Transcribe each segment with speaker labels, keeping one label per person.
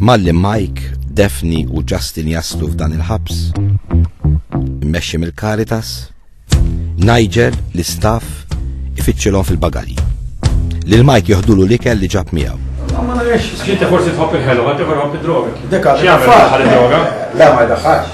Speaker 1: Malli Mike, Daphne u Justin jaslu f'dan il-ħabs, immexxi mill-Caritas, Nigel, l-istaff, ifittxilhom fil-bagalji. Lil Mike joħdulu l-ikel li ġab miegħu. Ma nafx, xinti forsi tħobb il-ħelu, ma tiħor ħobb id-droga. Deka, xi għamil ħal id-droga? La, ma jdaħħax.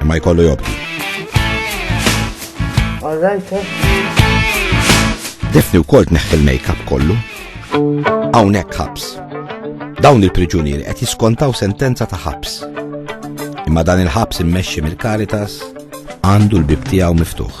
Speaker 1: imma jkollu jobdi. All right, eh? Defni u kolt neħħi l-make-up kollu. Għawnek ħabs. Dawn il-priġunieri qed jiskontaw sentenza ta' ħabs. Imma dan il-ħabs immexxi mill-Karitas għandu l-bib tiegħu miftuħ.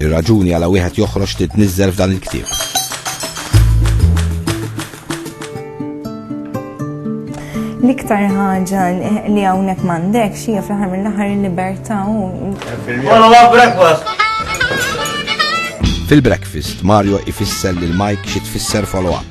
Speaker 1: Ir-raġuni għala wieħed joħroġ titniżżel f'dan il-ktieb. L-iktar ħaġa li hawnhekk m'għandek xi fl-aħħar mill-aħħar il-libertà u. breakfast. Fil-breakfast, Mario ifisser lil Mike xi tfisser follow-up.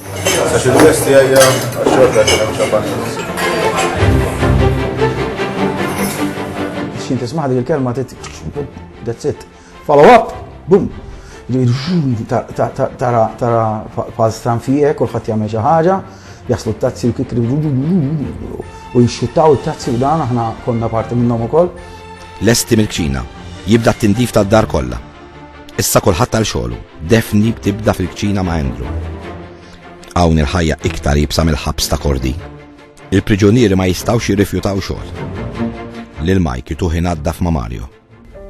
Speaker 1: Għax il-testi għajja għax-xorta għax xabbani. Xin tismaħ dik il-kelma tit, that's it. Follow up, boom. Tara, tara, paz tram fijek, kullħat jgħamil ġaħġa, jaslu t-tazzi u kikri, u jxuttaw t-tazzi u dan, aħna konna parti minnom u koll. Lesti mil-kċina, jibda t-tindif ta' dar kolla. Issa kulħadd għal xogħlu, Daphne btibda fil-kċina ma' Andrew. Hawn il-ħajja iktar jibsa mill-ħabs ta' kordi. Il-priġunieri ma jistgħux jirrifjutaw xogħol. Lil Mike jituħi naddaf ma' Mario.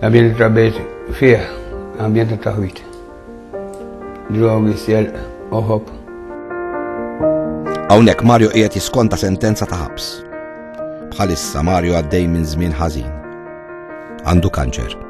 Speaker 1: Għabien trabejt fih, għabien ta' taħwit. Drogi, sjel, oħob. Hawnhekk Mario qiegħed jiskonta sentenza ta' ħabs. Bħalissa Mario għaddej minn żmien ħażin. Għandu kanċer.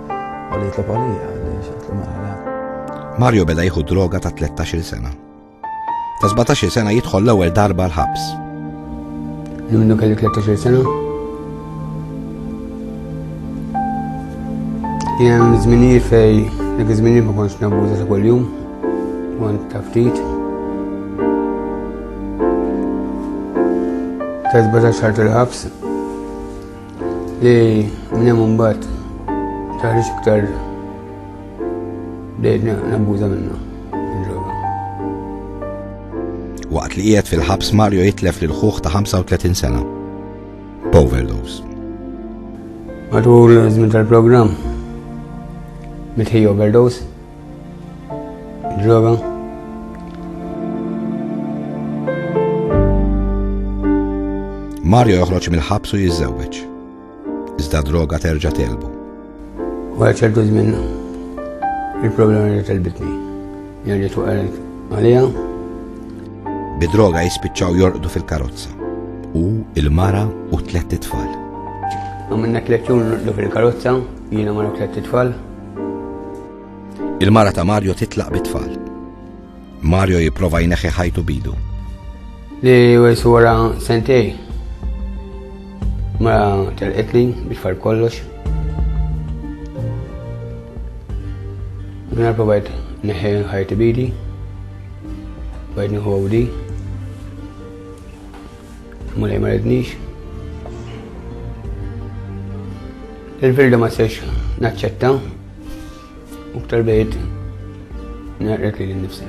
Speaker 1: Għalli jitlob għalija, għalli jitlob għalija. Mario beda jieħu droga ta' 13 sena. Ta' 17 sena jidħol l-ewwel darba l-ħabs. Minnu kelli 13 sena? Jem zmini fej, dik zmini ma konx nabuza ta' kull-jum, kont ta' ftit. Ta' 17 xar tal-ħabs, Li minn hemm imbagħad taħriġ iktar bdejt nabbuża minnha. Waqt li qiegħed fil-ħabs Mario jitlef lil ħuħ ta' 35 sena. B'overdose. Matul żmien tal-programm mitħi overdose Droga. Mario joħroġ mill-ħabs u jiżżewweġ. Iżda droga terġa' telbu. U għal ċertu żmien il-problema li telbitni. Jani tu għalet għalija. Bidroga jispiċċaw jorqdu fil-karozza. U il-mara u tlet tfal. Għamilna tlet jum fil-karozza, jiena mara tlet tfal. Il-mara ta' Mario titlaq bit-tfal. Mario jipprova jneħħi ħajtu bidu. Li wejsu wara sentej. Mara telqitli biex far kollox. Mela provajt neħħi ħajti bidi. Bajt nieħu għawdi. Mulej ma rednix. Il-verda ma sex naċċetta u ktar bejt naqret li l-nifsi.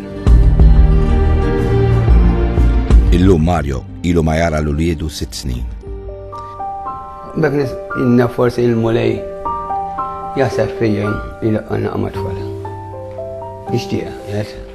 Speaker 1: Illum Mario ilu ma jara l-uliedu sitt snin. Dak nis inna forsi il-mulej jasab fija il-qanna għamat fala. Ixtieqa, jasab.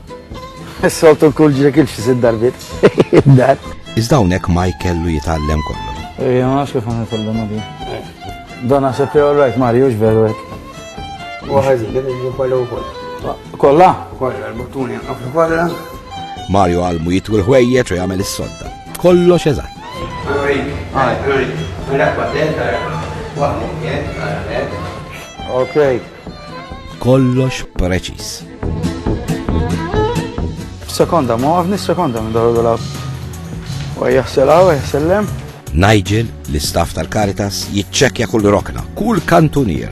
Speaker 1: Is-soltu l-kull ġrek il-xi sitt darbit. Dar. Iżda hawnhekk Mike kellu jitgħallem kollu. Ejja, ma nafx kif għan jitgħallem għadi. Dan naħseb jew rajt Mario x'veru hekk. Waħed jien kollu wkoll. Kollha? Kollha, l-buttuni għafru kollha. Mario għalmu jitwi l-ħwejjeġ u jagħmel is-sodda. Kollox eżatt. Okay. Kollox preċis. Sekonda, ma għafni sekonda minn daru dal-ab. U jahsela u jahsellem. Nigel, l-istaff tal-Karitas, jitċekja kull rokna, kull kantunier.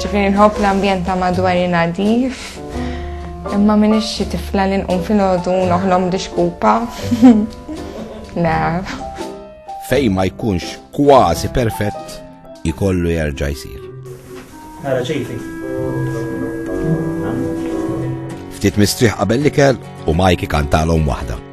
Speaker 1: Ġifieri nħobb l-ambjent ta' madwari nadif, imma minn xi tifla li nqum fil-ħodu noħlom dixkupa. Le. Fej ma jkunx kważi perfett ikollu jerġa' jsir. Ara ċejfi. Ftit mistrieħ qabel l-ikel u Mike kantalhom waħda.